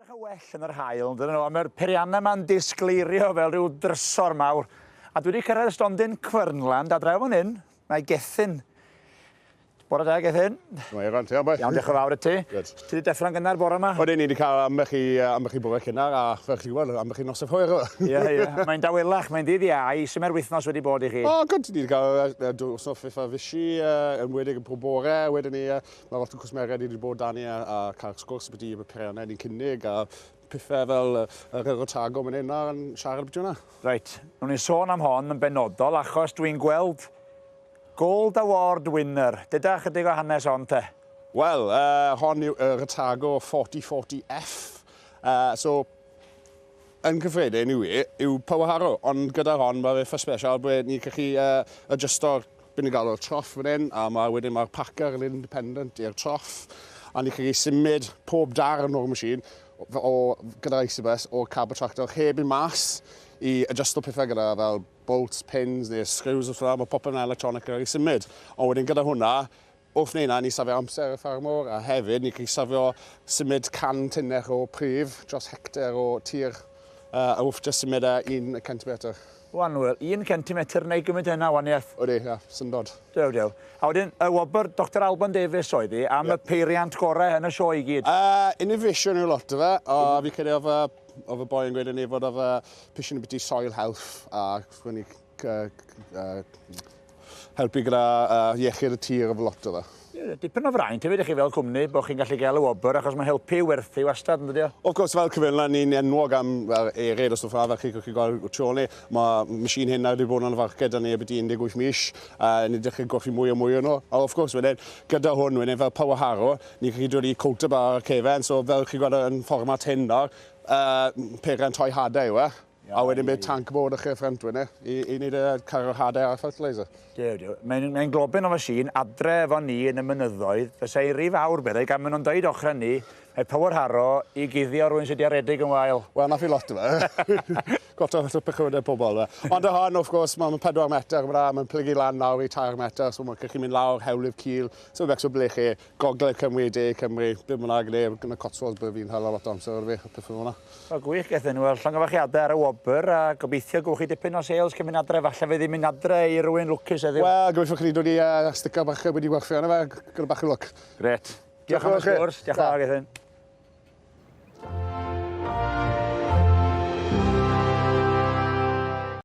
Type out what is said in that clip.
Edrych yn well yn yr haul, yn dydyn nhw, ond mae'r periannau yma'n disgleirio fel rhyw drysor mawr. A dwi wedi cyrraedd stondin Cwernland, a draw fan hyn, mae Gethin. Bore da, Gethin. Mae Eran, ti am beth? Iawn, diolch yn fawr i ti. Good. Ti wedi deffro'n gynnar bore yma? Oedden ni wedi cael ambell i, uh, ambell i bore cynnar, a fel chi gwybod, ambell i nos y hwyr. Ie, ie. Mae'n dawelach, mae'n ddydd iau. Sy'n mae'r wythnos wedi bod i chi? O, oh, good. Ni wedi cael uh, dos o ffifa fysi, uh, yn wedig yn pob bore. Wedyn ni, uh, Mae lot o cwsmeriaid ni wedi bod dan ni a, a cael sgwrs beth i peiriannau ni'n cynnig a pethau fel yr yr Otago mynd hyn a'n siarad beth yna. Reit, nhw'n ni'n sôn am hon yn benodol achos dwi'n gweld Gold Award winner. Deda chydig o hanes hon te. Wel, uh, hon yw yr Otago 4040F. Uh, so, yn cyffredin yw e, yw power harrow, ond gyda'r hon mae fe ffys special ble ni'n gallu uh, adjusto'r By ni'n galw'r troff fan hyn a mae wedyn mae'r packer yn independent i'r troff a ni'n gallu symud pob darn o'r machine o, gyda'r Isibus o'r cab y tractor heb i mas i adjusto pethau gyda fel bolts, pins neu screws os yna, mae popeth yn electronic yn cael ei symud. Ond wedyn gyda hwnna, Wrth wneud hynna, ni safio amser y ffermwr a hefyd ni gallu safio symud 100 tunnell o pridd dros hectar o tir a wrth jyst symud e un centimetr. Wan Wil, un centimetr neu gymint a hynna o waniaeth? Odi, ia, syndod. Dew, dew. A wedyn, y wobr Doctor Alban Davies oedd hi am y peiriant gorau yn y sioe i gyd? Yy, innovation yw lot o fe, a fi'n credu oedd y oedd y boi yn gweud yn ei fod oedd y pission yn biti soil health a helpu gyda iechyd y tir efo lot o fe. Dipyn o fraint hefyd i chi fel cwmni bod chi'n gallu gael y wobr achos mae helpu i werthu wastad yn dydi o? Of course fel cyfeilna ni'n enwog am fel eryd a stwff fel fel chi chi'n gweld y trole mae machine hyn nawr wedi bod yn y farced yn erbyti 18 mis a ni'n edrych yn golli mwy a mwy o'n nhw a of course wedyn gyda hwn wedyn fel power harrow ni'n gallu dod i coat up ar cefen so fel chi'n gweld yn fformat hyn nawr uh, peren toi hadau yw e A wedyn bydd tanc bod y chyrff rentwyr ni i, i wneud y cargo hader a'r fertiliser. Dew, dew. Mae'n mae globyn o fasîn adre efo ni yn y mynyddoedd. Fysa i'n rhy fawr, meddai, gan maen nhw'n dweud ochr ni, mae Power Harrow i guddio rwy'n sydd wedi aredig yn wael. Wel, na fi lot o fe. Gwta lot o pechywydau pobl. Ond y hon, wrth gwrs, mae'n 4 metr, mae'n plygu lan lawr i 3 metr, so mae'n gallu mynd lawr, hewlydd cil, so fe becso ble chi. Gogledd Cymru, De Cymru, be bynnag, neu yn y Cotswolds byddwn fi'n hala lot o amser ar y feic a pethau fel 'na. O gwych, gaeth enw ar llongyfarchiadau ar y wobr a gobeithio gywch chi dipyn o sales cyn mynd adre, falle fe ddim mynd adre i rywun lwcus heddiw. Wel, gobeithio chi 'di dod i yy sticker bach a wedi gwerthu arno fe, gyda bach o lwc. Grêt. Diolch am y sgwrs, diolch yn fawr Gethin.